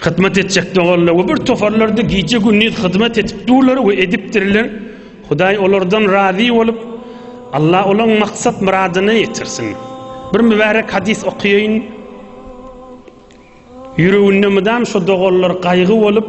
Hyzmat etjek doganlar we bir toparlarda gije gündiz hyzmat edip durlar we edipdirler. Hudaý olardan razy bolup, Allah olaň maksat myradyna ýetirsin. Bir mübärek hadys okaýaýyn. Ýüreginde mydam şu doganlar gaýgy bolup,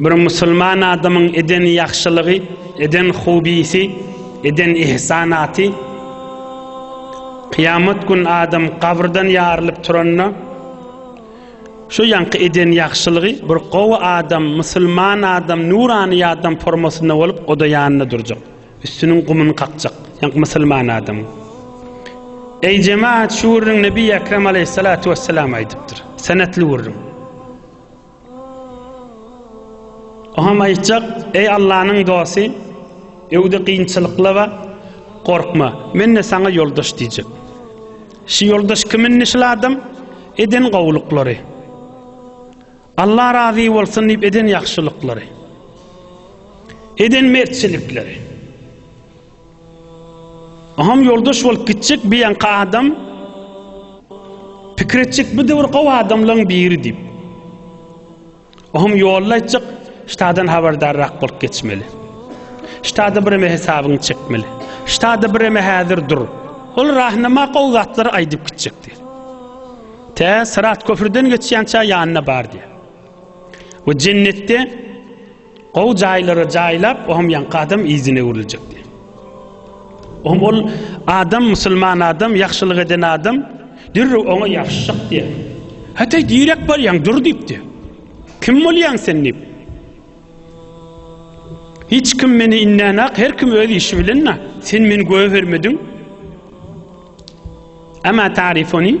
Bir musulman adamyň eden ýagşylygy, eden hobisi, eden ihsanaty Kyýamat gün adam gabrdan ýarylyp turanda şu ýaňky eden ýagşylygy bir gowy adam, musulman adam, nurany adam formasynda bolup oda ýanynda durjak. Üstüniň gumuny kakjak. Ýaňky musulman adam. Eý jemaat, şu gürrüň Nebi Ekrem aleyhissalatu vesselam aýdypdyr. Senetli gürrüň. Oňam aýtjak, Eý Allanyň dosty, öwde kynçylyklaba, gorkma, men-de saňa ýoldaş diýjek. Şu ýoldaş kim indi şul adam? Eden gowulyklary. Alla razy bolsun diýip eden ýagşylyklary. Eden mertçilikleri. Aham ýoldaş bolup gitjek bir ýanky adam pikir etjek bu döwür gowy adamlaryň biri diýip. Aham ýolda aýtjak ştadan habardarrak bolup geçmeli. Ştada bir eme hesabyny çekmeli. Ştada bir eme häzir dur. Ol rahnama gowy zatlary aýdyp gitjek diýip. Tä Syrat köprüden geçýänçä ýanyna bar diýip. We jennetde Gowy jaýlara jaýlap, ohm ýaňky adam yzyna öwrüljek diýip. Ohm ol adam musulman adam, ýagşylyk eden adam dürrüw oňa ýapyşjak diýip. Hataý direk barýaň dur diýipdi. Kim bolýaň sen diýip. Hiç kim meni innenak, her kim öz işi bilen na. Sen meni göwe bermediň. Ama tarifoni.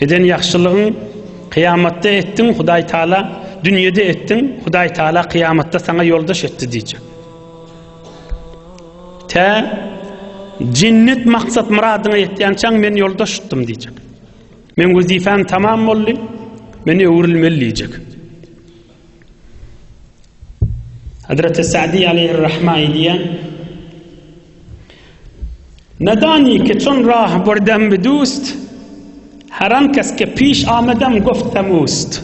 Eden ýagşylygyň kyýamatda etdiň Hudaý Taala dünýede etdiň Hudaý Taala kyýamatda saňa ýoldaş etdi diýjek. Tä jennet maksat myradyňa ýetýänçäň men ýoldaş tutdum diýjek. Men wezipem tamam boldy. Men öwrülmeli diýjek. Hazreti Sa'di aleyhir rahma diýen Nedani ke çün rah birden bi dust, Her an kes ke piş amedem goftem ust.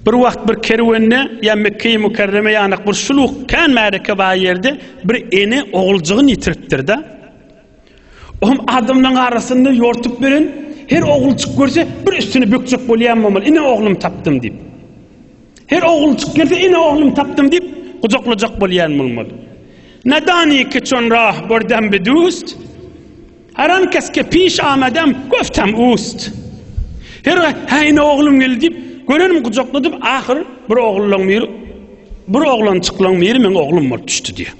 Bir wagt bir kerwende ýa Mekge-i Mükerreme ýanak bir şuluk kän märeke bar ýerde bir ene oguljygyn ýitiripdir-de. Ohm adamlaryň arasynda ýortup ýören her oguljyk görse bir üstüni bökjek bolýan bolmaly, ine oglum tapdym diýip. Her oguljyk gelse ine oglum tapdym diýip gujaklajak bolýan bolmaly. Nadani ki çon rah bordem bi dust, haran kes ke piş amadem goftem ust. Her ha ine oglum geldi diýip görenim gujakladyp ahyr bir ogluň bir bir oglançyklyň biri meň oglum bolup düşdi diýýär.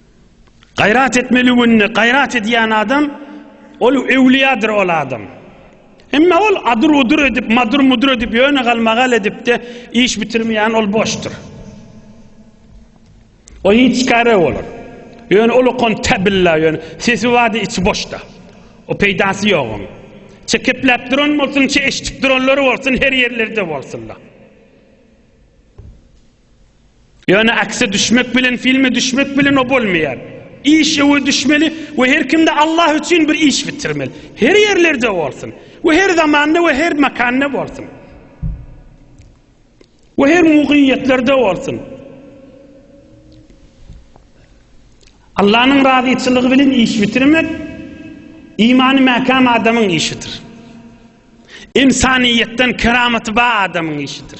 Gaýrat etmeli günde gaýrat edýän adam ol öwliýadyr ol adam. Emma ol adyr udur edip madyr mudur edip ýöne galmagal edipde iş bitirmeýän ol boşdur. O hiç kare bolar. Ýöne ol okan tabilla ýöne sesi wady içi boşda. O peýdasy ýok oň. Çekepläp duran bolsun, çe eşitip duranlary bolsun her ýerlerde bolsunlar. Ýöne akse düşmek bilen filme düşmek bilen o bolmaýar. Iş öwe düşmeli we her kimde Allah üçin bir iş bitirmeli. Her ýerlerde bolsun. We her zamanda we her makanda bolsun. We her mugyýetlerde bolsun. Allah'ın razyçylygy bilen iş bitirmek imanı mäkäm adamyň işidir. İnsaniýetden keramatı bar adamyň işidir.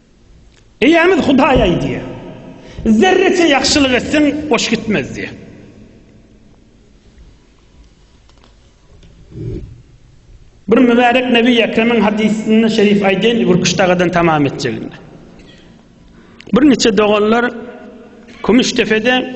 Eýämiz Hudaý aýdýar, Zerreçe ýagşylyk etseň, boş gitmez diýýär. Bir mübärek Nebi Ekremiň hadysynda şerif aýdýan Gürküş dagadan tamam etjeginde. Bir niçe doganlar Kümüşdepede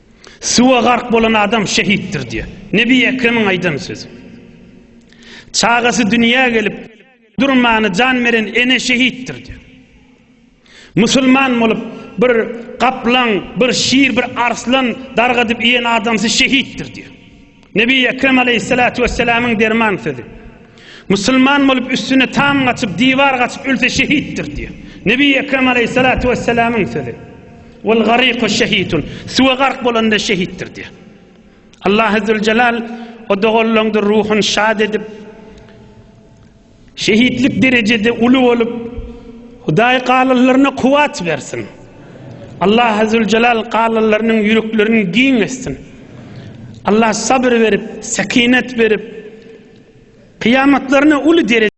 Suwa gark bolan adam şehitdir diýýär. Nebi Ekremiň aýdan sözi. Çagasy dünýä gelip durmany jan beren ene şehitdir diýýär. Musulman bolup bir gaplaň, bir şir, bir arslan dargadyp iýen adamsy şehitdir diýýär. Nebi Ekrem aleýhissalatu wessalamyň derman sözi. Musulman bolup üstüne tam gaçyp, diwar gaçyp ölse şehitdir diýýär. Nebi Ekrem aleýhissalatu wessalamyň sözi. Wal gariku şehitun. Suwa gark bolanda şehitdir diýýär. Allah Azzul Jalal o doganlaryňdyr ruhuny şad edip, Şehitlik derejede uly bolup Hudaý galyllaryna kuwat bersin. Allah Azzuljalal galyllarynyň ýüreklerini giň etsin. Allah sabr berip, sekinet berip, kyýamatlaryna uly dereje.